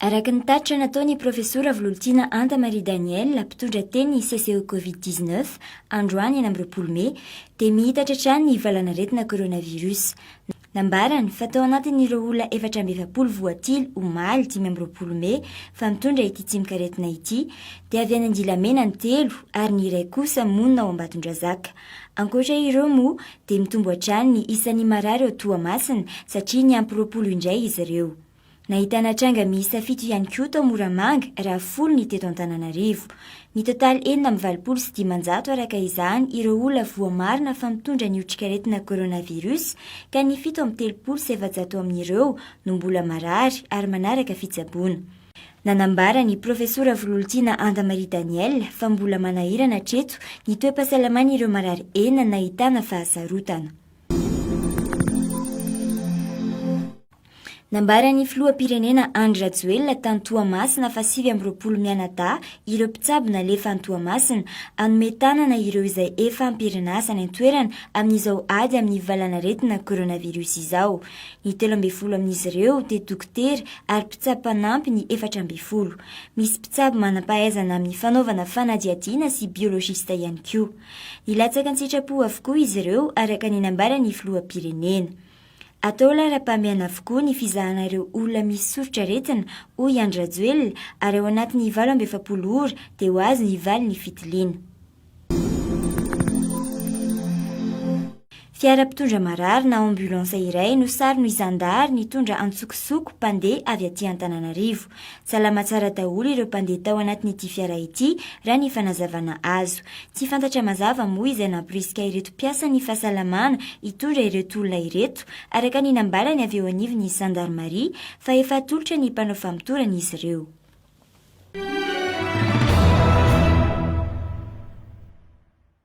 Araka ny tatitra nataon'ny Profesora Vololtiana Anta Marie Daniel, mpitondra teny CCE Covid-19, androany enam roapolo mey, dia mihitatra hatrany ny valanaretina coronavirus. Nambarany fa tao anatin'ireo olona efatra amby efapolo voatily omaly dimy amby roapolo mey fa mitondra ity tsimok'aretina ity dia avy any Andilamena ny telo ary ny iray kosa monina ao Ambatondrazaka. Ankoatra ireo moa dia mitombo hatrany ny isan'ny marary ao Toamasina satria niampy roapolo indray izy ireo. Nahitana tranga miisa fito ihany koa tao Moramanga raha folo ny teto Antananarivo. Mitotaly enina amby valopolo sy dimanjato araka izany ireo olona voamarina fa mitondra ny otrikaretina coronavirus ka ny fito amby telopolo sy efajato amin'ireo no mbola marary ary manaraka fitsaboana. Nanambara ny Profesora Vololtiana Anda Marie Danielle fa mbola manahirana hatreto ny toe-pahasalaman'ireo marary enina nahitana fahasarotana. Nambaran'ny filoham-pirenena Andry Rajoelina tany Toamasina fa sivy amby roapolo mianadahy ireo mpitsabo nalefa any Toamasina hanome tanana ireo izay efa am-pirinasa any an-toerana amin'izao ady amin'ny valanaretina coronavirus izao. Ny telo ambin'ny folo amin'izy ireo dia dokotera ary mpitsabo mpanampy ny efatra ambin'ny folo. Misy mpitsabo manam-pahaizana amin'ny fanaovana fanadihadiana sy biologista ihany koa. Nilatsaka an-tsitrapo avokoa izy ireo araka ny nambaran'ny filoham-pirenena. Atao laharam-pahamehana avokoa ny fizahana ireo olona misy soritr'aretina, hoy Andry Rajoelina, ary ao anatin'ny valo amby efapolo ora dia ho azo ny valin'ny fitiliana. Fiara mpitondra marary na ambulance iray no saron'ny zandary nitondra antsokosoko mpandeha avy aty Antananarivo. Salama tsara daholo ireo mpandeha tao anatin'ity fiara ity, raha ny fanazavana azo. Tsy fantatra mazava moa izay nampirisika ireto mpiasan'ny fahasalamana hitondra ireto olona ireto, araka ny nambarany avy eo anivon'ny zandarimaria fa efa atolotra ny mpanao famotorana izy ireo.